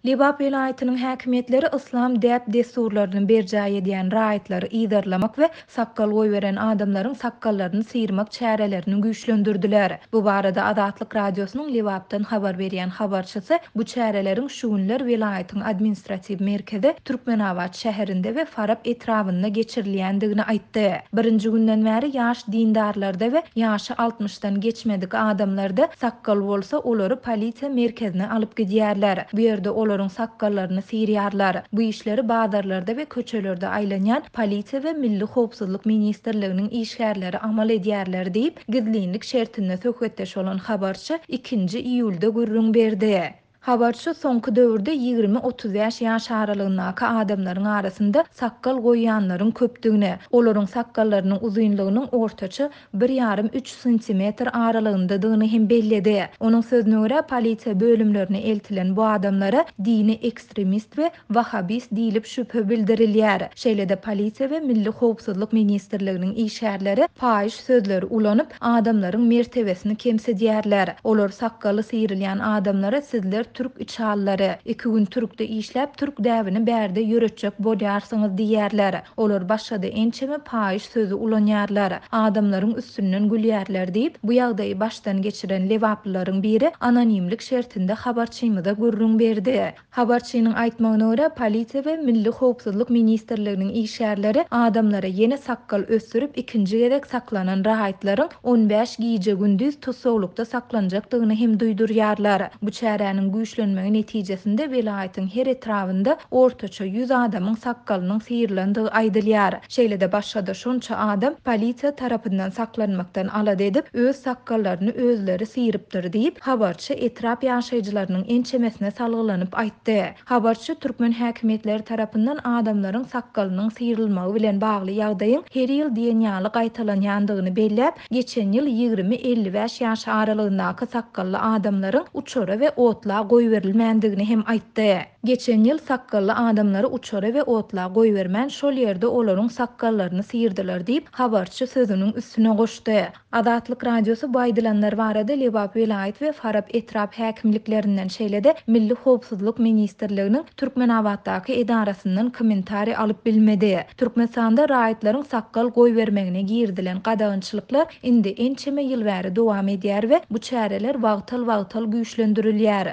Lebap welaýatynyň häkimiýetleri yslam däp-dessurlaryny berjaý edýän raýatlary yzarlamak we sakgal goýberen adamlaryň sakgallaryny syýrmak çärelerini güýçlendirdiler. Bu barada Azatlyk Radiosynyň Lebapdan habar berýän habarçysy bu çäreleriň şu günler welaýatyň administratiw merkezi Türkmenabat şäherinde we Farap etrabynda geçirilýändigini aýtdy. Birinji günden bäri ýaş dindarlarda we ýaş Altmyşdan geçmedik adamlarda sakgal bolsa, olary polisiýa merkezine alyp gidýärler. Bu ýerde olaryň sakgallaryny syrýarlar. Bu işleri bazarlarda we köçelerde aýlanýan polisiýa we Milli howpsuzlyk ministrliginiň işgärleri amal edýärler diýip, gizlinlik şertinde söhbetdeş bolan habarçy ikinji iýulda gürrüň berdi. Habarçy soňky döwürde ýigrimi-otuz bäş ýaş aralygyndaky adamlaryň arasynda sakgal goýýanlaryň köpdügini, olaryň sakgallarynyň uzynlygynyň ortaça bir ýarym-üç santimetr aralygyndadygyny hem belledi. Onuň sözüne görä, polisiýa bölümlerine eltilen bu adamlara dini ekstremist we wahabist diýlip şübhe bildirilýär. Şeýle-de polisiýa we milli howpsuzlyk ministrliginiň işgärleri paýyş sözleri ulanyp, adamlaryň mertebesini kemsidýärler. Olar sakgaly syýrylýan adamlara sizler türk içallary, iki gün türkde işläp türk däbini bärde ýöretjek bolýarsyňyz diýýärler. Olar başga-da ençeme paýyş sözi ulanýarlar. Adamlaryň üstünden gülýärler diýip, bu ýagdaýy başdan geçiren lebaplylaryň biri anonimlik şertinde habarçymyza gürrüň berdi. Habarçynyň aýtmagyna görä, polisiýa we Milli howpsuzlyk ministrliginiň işgärleri adamlara ýene sakgal ösdürip, ikinji gezek saklanan raýatlaryň on bäş gije-gündiz tussaglykda saklanjakdygyny hem duýdurýarlar. Bu çäräniň güýçlenmegi netijesinde welaýatyň her etrabynda ortaça ýüz adamyň sakgalynyň syrylandygy aýdylýar. Şeýle-de başga-da şonça adam polisiýa tarapyndan saklanmakdan alada edip, öz sakgallaryny özleri syrypdyr diýip, habarçy etrap ýaşaýjylarynyň ençemesine salgylanyp aýtdy. Habarçy türkmen häkimiýetleri tarapyndan adamlaryň sakgalynyň syrylmagy bilen bagly ýagdaýyň her ýyl diýen ýaly gaýtalanýandygyny belläp, geçen ýyl ýigrimi-elli bäş ýaş aralygyndaky sakgally adamlaryň uçara we otla goýberilmändigini hem aýtdy. Geçen ýyl sakgally adamlary uçara we otla goýbermän, şol ýerde olaryň sakgallaryny syrdylar diýip, habarçy sözüniň üstüne goşdy. Azatlyk Radiosy bu aýdylanlar barada Lebap welaýat we Farap etrap häkimliklerinden, şeýle-de Milli howpsuzlyk ministrliginiň Türkmenabatdaky edarasyndan kommentariý alyp bilmedi. Türkmenistanda raýatlaryň sakgal goýbermegine girizilen gadagançylyklar indi ençeme ýyl bäri dowam edýär we bu çäreler wagtal-wagtal güýçlendirilýär.